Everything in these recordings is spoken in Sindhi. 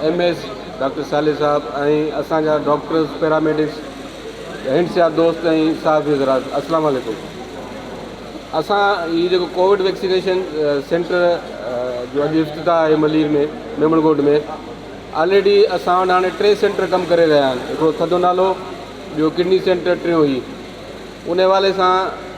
M S, doctor Saleh Sahib ۽ اسان جا ڊاڪٽرز، پيراميڊڪس، هنڊ سيا دوست ۽ صحافي حضرات السلام عليڪم اسان هي جيڪو ڪووڊ ويڪسينيشن سينٽر جو اڄ افتتاح آهي ملير ۾ ميمڻ ڳوٺ ۾ آلريڊي اسان وٽ هاڻي ٽي سينٽر ڪم ڪري رهيا آهن هڪڙو ٿڌو نالو ٻيو ڪڊني سينٽر ٽيون هي ان حوالي سان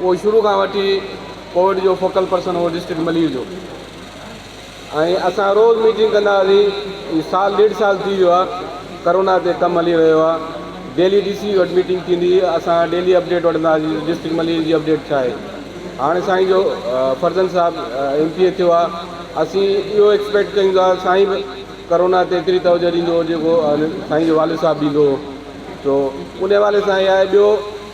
اهو شروع کان وٺي ڪوويڊ جو فوڪل پرسن هو ڊسٽرڪٽ ملير جو ۽ اسان روز ميٽنگ ڪندا هئاسين هي سال ڏيڍ سال ٿي ويو آهي ڪرونا تي ڪم هلي رهيو آهي ڊيلي ڊي سي وٽ ميٽنگ ٿيندي هئي اسان ڊيلي اپڊيٽ وٺندا هئاسين ڊسٽرڪٽ ملير جي اپڊيٽ ڇا آهي هاڻي سائين جو فرزند صاحب ايم پي اي ٿيو آهي اسين اهو ايڪسپيڪٽ ڪيون ٿا سائين به ڪرونا تي ايتري توجه ڏيندو جيڪو سائين جو والد صاحب ڏيندو هو تو ان حوالي سان اهي آهي ٻيو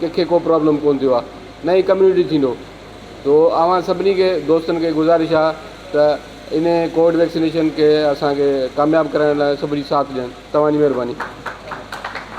ڪنهن کي ڪو پرابلم ڪونه ٿيو آهي نه ئي ڪميونٽي ٿيندو تو اوهان سڀني کي دوستن کي گذارش آهي ته ان ڪووڊ ويڪسينيشن کي اسانکي ڪامياب ڪرائڻ لاء سڀني ساٿ ڏين تمام جي مهرباني